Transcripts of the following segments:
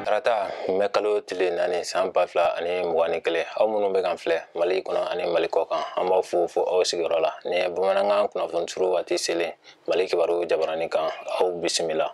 tarata mɛ kalo tile naani san ba fila ani mugan ni kelen aw minnu bɛ k'an filɛ mali kɔnɔ ani mali kɔkan an b'aw fo fo aw sigiyɔrɔ la nin ye bamanankan kunnafoni suru waati selen mali kibaru jabarani kan aw bisimila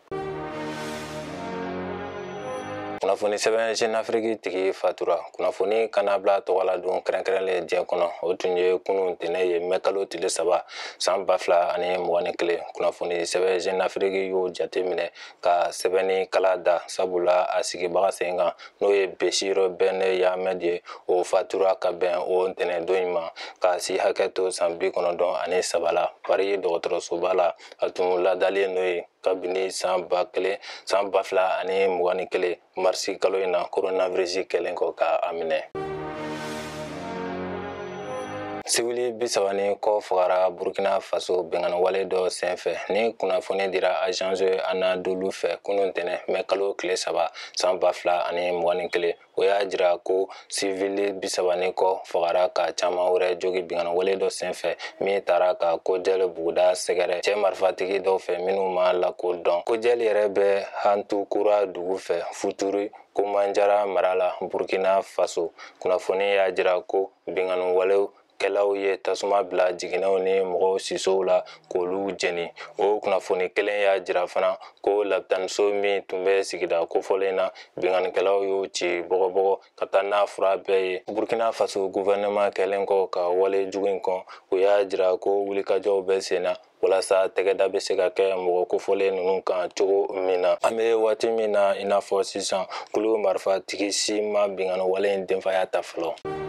kunnafoni sɛbɛn jeune afrique tigi fatura kunnafoni kannabila tɔgɔladon kɛrɛnkɛrɛnlen diɲɛ kɔnɔ o tun ye kunun tɛnɛ ye mɛ kalo tile saba san ba fila ani mugan ni kelen kunnafoni sɛbɛn jeune afrique y'o jate minɛ ka sɛbɛnni kala da sabula a sigibaga sen kan n'o ye bechir ben yahmed ye o fatura ka bɛn o ntɛnɛndon in ma ka si hakɛ to san bi kɔnɔntɔn ani saba la pari dɔgɔtɔrɔsoba la a tun ladalen n'o ye kabini san ba kelen san ba fila ani mugan ni kelen marisi kalo in na koronavirisi kɛlen kɔ ka a minɛ sivili bisaba ni kɔ fagara burkina faso binkanniwale dɔ senfɛ nin kunnafoni dira agence anadolu fɛ kunun tɛnɛ mɛ kalo tile saba san ba fila ani mugan ni kelen o y'a jira ko sivili bisaba ni kɔ fagara ka caman wɛrɛ jogi binkanniwale dɔ senfɛ min taara ka kojɛli buguda sɛgɛrɛ cɛ marifatigi dɔw fɛ minnu ma lakodɔn kojɛli yɛrɛ bɛ hantukura dugu fɛ futuri komanjara mara la burkina faso kunnafoni y'a jira ko binkanniwale kɛlaw ye tasuma bila jiginɛw ni mɔgɔw sisow la k'olu jeni o kunnafoni kelen y'a jira fana ko labitaniso min tun bɛ sigida kofɔlen na binkannikɛlaw y'o ci bɔgɔbɔgɔ ka taa n'a fura bɛɛ ye burkina faso guvɛrɛnɛman kɛlen kɔ ka wale jugu in kɔn o y'a jira ko wulikajɔw bɛ sen na walasa tɛgɛda bɛ se ka kɛ mɔgɔ kofɔlen ninnu kan cogo min na an bɛ waati min na i n'a fɔ sisan kulu marifatigi si ma binkanniwale in denfaya ta fɔlɔ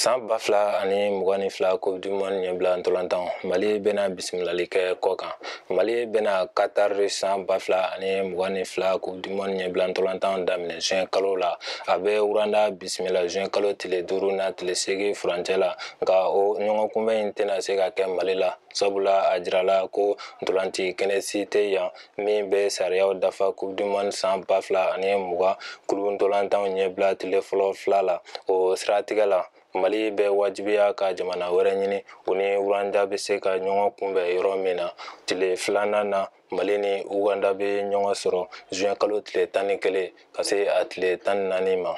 san ba fila ani mugan ni fila coupe du monde ɲɛbila ntolantan mali bɛna bisimilali kɛ kɔkan mali bɛna qatar san ba fila ani mugan ni fila coupe du monde ɲɛbila ntolantan daminɛ juin kalo la a bɛ rwanda bisimila juin kalo tile duuru n'a tile seegin furancɛ la nka o ɲɔgɔn kunbɛn in tɛna se ka kɛ mali la sabula a jirala ko ntolanci kɛnɛ si tɛ yan min bɛ sariyaw dafa coupe du monde san ba fila ani mugan kulu ntolantanw ɲɛbila tile fɔlɔ fila la o siratigɛ la mali bɛ wajibiya ka jamana wɛrɛ ɲini u ni rwanda bɛ se ka ɲɔgɔn kunbɛn yɔrɔ min na tile filanan na mali ni uganda bɛ ɲɔgɔn sɔrɔ juin kalo tile tan ni kelen ka se a tile tan ni naani ma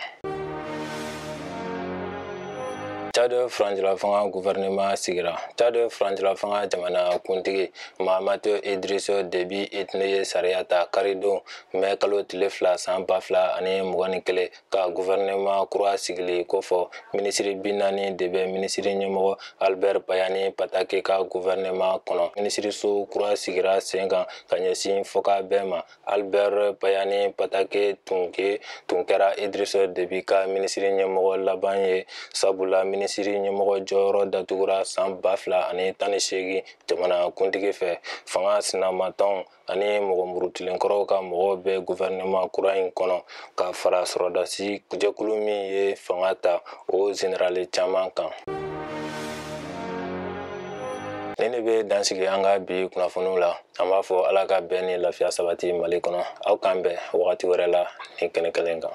Tchad furancɛlafanga gouvernement sigira Tchad furancɛlafanga jamana kuntigi Mahamat Idriss Déby Itno ye sariya ta karidon mɛ kalo tile fila san ba fila ani mugan ni kelen ka guvɛrɛnɛman kura sigili kofɔ minisiri bi naani de bɛ minisiri ɲɛmɔgɔ albɛr pahimi padake ka guvɛrɛnɛman kɔnɔ minisiriso kura sigira sen kan ka ɲɛsin fɔkabɛn ma albɛr pahimi padake tun kɛ tun kɛra idrisi debi ka minisiri ɲɛmɔgɔ laban ye sabula minisiri ɲɛmɔgɔ jɔyɔrɔ datugura san ba fila ani tan ni seegin jamana kuntigi fɛ fanga sinamatɔn ani mɔgɔ murutilenkɔrɔw ka mɔgɔw bɛ guvɛrɛnɛman kura in kɔnɔ ka fara sɔrɔdasi jɛkulu min ye fanga ta o zenerali caman kan nin de bɛ dan sigi an ka bi kunnafoniw la an b'a fɔ ala ka bɛn ni lafiya sabati mali kɔnɔ aw k'an bɛn wagati wɛrɛ la nin kɛnɛ kelen kan